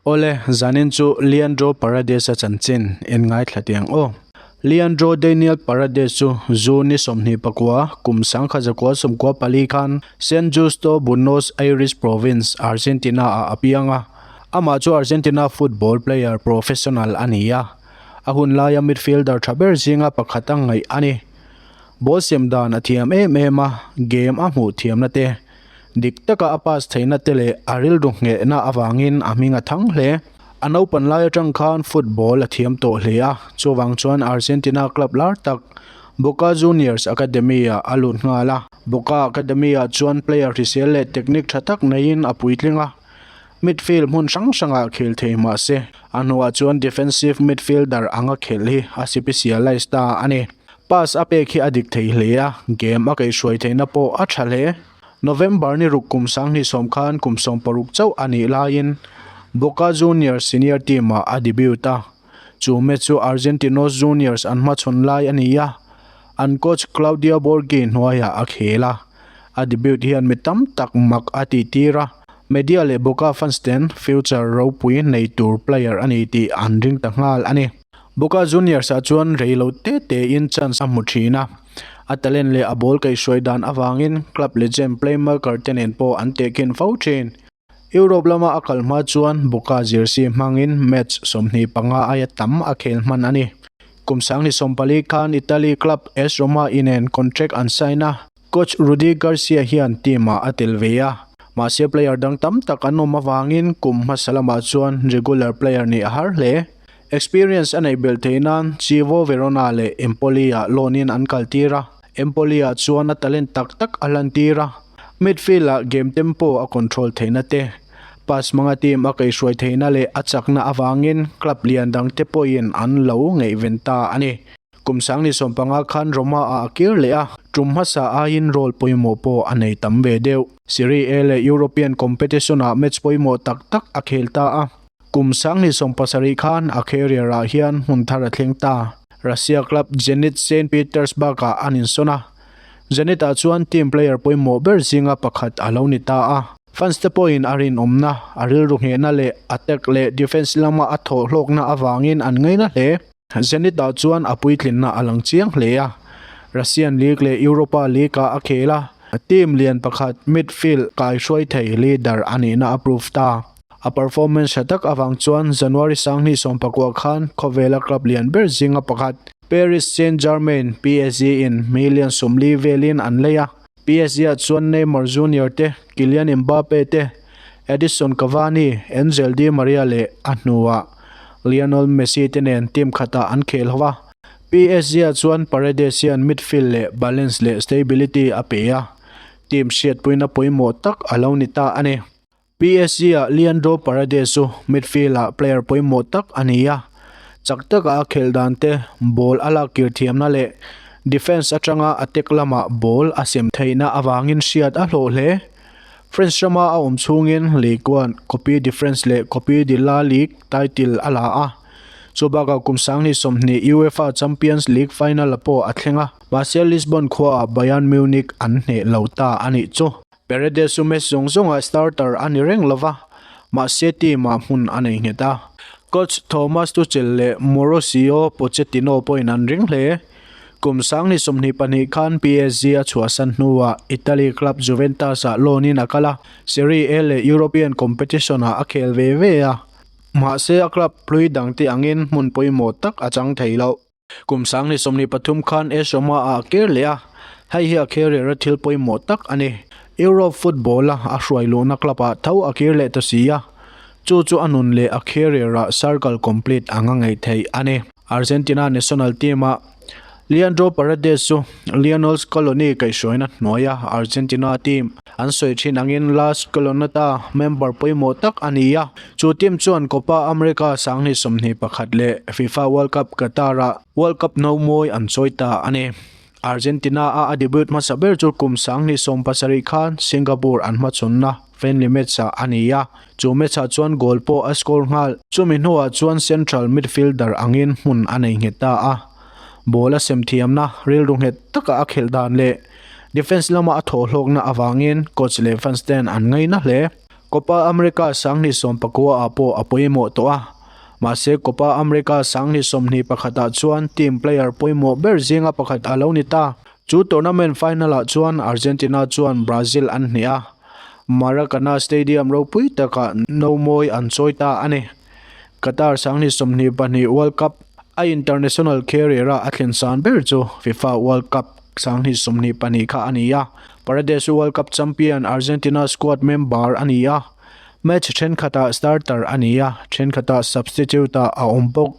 Awle, zanin chu Leandro Paredes-a chanchin in ngaithla tiang aw. Leandro Daniel Paredes chu June ni sawmhnih pakua, kum sangkhat zakua sawmkua pali khan San Justo, Buenos Aires Province, Argentina ah a piang a. Amah chu Argentina football player professional a ni a. A hun laia midfielder tha ber zinga pakhat a ngaih a ni. Ball siam dan a thiam em em a, game a hmuh thiamna te, dik taka a pass theihna te leh a rilru nghehna avangin a hming a thang hle. A naupan lai atang khan football a thiam tawh hle a, chuvang chuan Argentina club lar tak Boca Juniors academy-ah a lut nghal a. Boca academy-ah chuan player hrisel leh technique tha tak neiin a puitling a. Midfield hmun hrang hrangah khel thei mahse, a hnuah chuan defensive midfielder anga khelh hi a sipisia Leicester a ni. Pass a pek hi a dik thei hle a, game a kei hruai theihna pawh a tha hle. November ni ruk kum sang hnih sawm khan kum sawm paruk chauh a nih laiin Boca Juniors senior team-ah a debut a, Chu match chu Argentinos Juniors an hmachhawn lai a ni a, an coach Claudio Borghi hnuaiah a khel a. A debut hian mi tam tak mak a tihtir a, media leh Boca fans ten future ropui nei tur player a ni tih an ring ta nghal a ni. Boca Juniors-ah chuan rei lo te tein chance a hmu thin a, a talent leh a ball kaihhruai dan avangin club legend playmaker te nen pawh an tehkin fo thin. Europe lama a kal hma chuan Boca jersey hmangin match sawmhnih panga aia tam a khel hman a ni. Kum sanghnih sawm pali khan Italy club AS Roma i nen contract an sign a. Coach Rudi Garcia hian team-ah a tel ve a, mahse player dang tam tak an awm avangin kum hmasa lamah chuan regular player nih a har hle. Experience a neih belh theih nan Chievo Verona leh Empoli-ah loan-in an kaltir a. Empoli-a chuan a talent tak tak a hlantir a, midfield-a game tempo a control theihna te, pass hmanga team a kaihhruai theihna leh a chakna avangin club lian dangte pawhin an lo ngaihven ta a ni. Kum sangni sawm panga khan Roma-a a kir leh a, tum hmasa aiin role pawimawh pawh a nei tam ve deuh. Serie A leh European competition-ah match pawimawh tak tak a khel ta a. Kum Sanghnih sawm pasarih khan a carrier-ah hian hmun thar a thleng ta. Russia club Zenit Saint Petersburg-ah an insawn a. Zenit-ah chuan team player pawimawh ber zinga pakhat a lo ni ta a. Fans-te pawhin a rinawmna, a rilru nghehna leh attack leh defence lama a thawh hlawkna avangin an ngaina hle. Zenit ah chuan a puitlinna a lang chiang hle a, Russian League leh Europa League ah a khel a, team lian pakhat midfield kaihruai thei leader a nihna a prove ta. A performance hre tak avang chuan January sanghnih sawm pakua khan khawvela club lian ber zinga pakhat Paris Saint-Germain, PSG, in hmeiin lian sum li velin an lei a. PSG-ah chuan Neymar Junior te, Kylian Mbappe te, Edison Cavani, Angel Di Maria leh a hnuah Lionel Messi te nen team khatah an khel ho a. PSG-ah chuan Paredes hian midfield leh balance leh stability a pe a, team hriatpuina pawimawh tak a lo ni ta a ni. PSG-ah Leandro Paredes chu midfield-ah player pawimawh tak a ni a, chak taka a khelh dante, ball a lak kirthiamna leh defence atanga attack lamah ball a sem theihna avangin hriat a hlawh hle. France rama a awm chhungin Ligue one, Cope de France leh Cope de la Ligue title a la a, chu bakah kum sanghnih sawmhnih UEFA Champions League final-a pawh a thleng a, mahse Lisbon khuaah Bayern Munich an hneh lo ta a nih chu. Paredes-u match zawng zawnga starter a ni reng lo va, mahse team-ah hmun a nei nghet a. Coach Thomas Tuchel leh Mauricio Pochettino pawhin an ring hle. Kum Sangni sawmhnih pahnih khan PSG a chhuahsan hnuah Italy club Juventus-ah loanin a kal a, Serie A leh European competition-ah a khel ve ve a, mahse a club hlui dangte angin hmun pawimawh tak a chang thei loh. Kum Sangni sawmni pathum khan Asia-ma a ker leh a, hei hi a kher rera thil pawimawh tak a ni. Europe football-a a hruai luhna club-a tho a kir leh ta si a, chu chu a nun leh a kher rera circle complete anga ngei thei a ni. Argentina national team-a Leandro Paredes chu Lionel Scaloni kaihhruaina hnuaia Argentina team, an sawi thin angin Last Kolonata member pawimawh tak a ni a. Chu team chuan Copa America sanghnih sawmhnih pakhat leh Fifa World Cup Qatar-a World Cup no mawi an chawi ta a ni. Argentina-a a debut hmasa ber chu kum sanghnih sawm pasarih khan Singapore an hmachhunna friendly match-ah a ni a, chu match-ah chuan goal pawh a score nghal. Chumi hnuah chuan central midfielder angin hmun a nei nghet ta a, ball-a semthiamna rilru nghet taka a khelh dan leh Defence lama a thawhlawkna avangin coach leh fans ten an ngaina hle. Copa America sanghnih sawm pakua ah pawh a pawimawh tawh a, mahse Copa America sanghnih sawmhnih pakhat ah chuan team player pawimawh ber zinga pakhat a lo ni ta. Chu tournament final ah chuan Argentina chuan Brazil an hnih a, Maracana Stadium ropui takah no mawi an chawi ta a ni. Qatar Sanghnih sawmhnih pahnih World Cup a International Carrier-a a thlen san ber chu Fifa World Cup Sanghnih sawmhnih pahnih kha a ni a, Paredes World Cup champion Argentina squad member a ni a, match thenkhatah starter a ni a, thenkhatah substitute-a a awm bawk.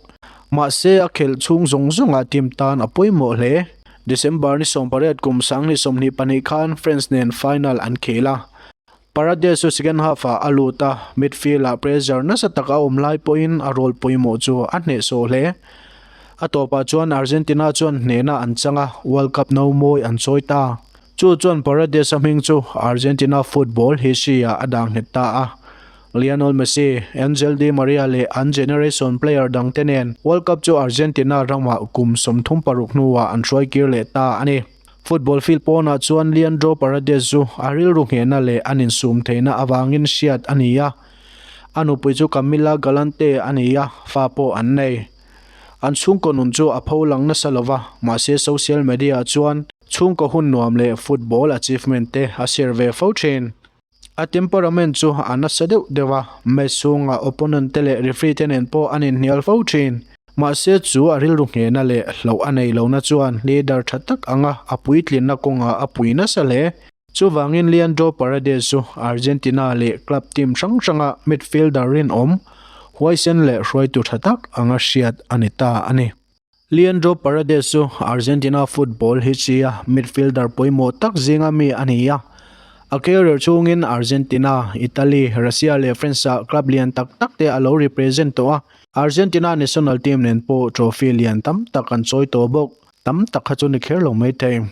Mahse, a khelh chhung zawng zawngah team tan a pawimawh hle. December ni sawmpariat kum Sanghnih sawmhnih pahnih khan France nen final an khel a. Paredes chu second half-ah a lut a, midfield-ah pressure nasa tak a awm lai pawhin a role pawimawh chu a hnehsawh hle. A tawpah chuan Argentina chuan hnehna an chang a, World Cup no mawi an chawi ta. Chu chuan Paredes-a hming chu Argentina football history-ah a dah nghet ta a. Lionel Messi, Angel Di Maria leh an generation player dangte nen World Cup chu Argentina ramah kum sawmthum paruk hnuah an hruaikir leh ta a ni. Football field pawnah chuan Leandro Paredes chu a rilru nghehna leh an insum theihna avangin hriat a ni a, a nupui chu Camila Galante a ni a, fa pawh an nei. An chhungkaw nun chu a pho lang nasa lo va, mahse social media-ah chuan chhungkaw hun nuam leh football achievement te a share ve fo thin. A temperament chu a nasa deuh deuh a, match chhungah opponent te leh referee te nen pawh a nen hnial fo thin. Mahse chu a rilru nghehna leh hloh a nei lohna chuan leader tha tak anga a puitlinna kawnga a pui nasa hle. Chuvangin Leandro Paredes chu Argentina leh club team hrang hranga midfielder rinawm huaisen leh hruaitu tha tak anga hriat a ni ta a ni. Leandro Paredes chu Argentina football hichia midfielder pawimawh tak zinga mi a ni a, a career chhungin Argentina, Italy, Russia leh France-a club lian tak tak te a lo represent tawh a. Argentina national team nen pawh trophy lian tam tak an chawi tawh bawk, tam tak kha chu ni kher lo mai thei.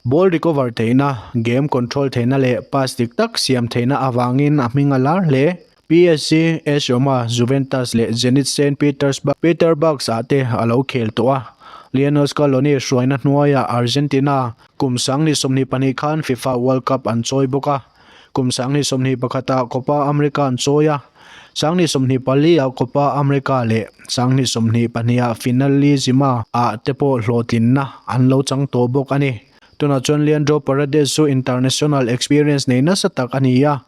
Ball recover theihna, game control theihna leh pass dik tak siam theihna avangin a hming a lar hle. PSG, AS Roma, Juventus leh Zenit Saint Petersburg, Peterbugs, ah te a lo khel tawh a. Lionel Scaloni hruaina hnuaiah Argentina kum sanghnih sawmhnih pahnih khan Fifa World Cup an chawi bawk a. Kum sanghnih sawmhnih pakhatah Copa America an chawi a. Sanghnih sawmhnih paliah Copa America leh sanghnih sawmhnih pahniha Finalizima ah te pawh hlawhtlinna an lo chang tawh bawk a ni. Tunah chuan Leandro Paredes chu international experience nei nasa tak a ni a,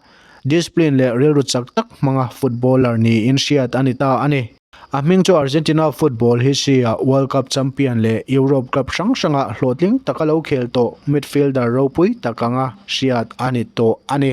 discipline leh rilru chak tak hmanga footballer niin hriat a ni ta a ni. A hming chu Argentina football history-a World Cup champion leh Europe Cup hrang hranga hlawhtling taka lo khel tawh midfielder ropui tak anga hriat a ni tawh a ni.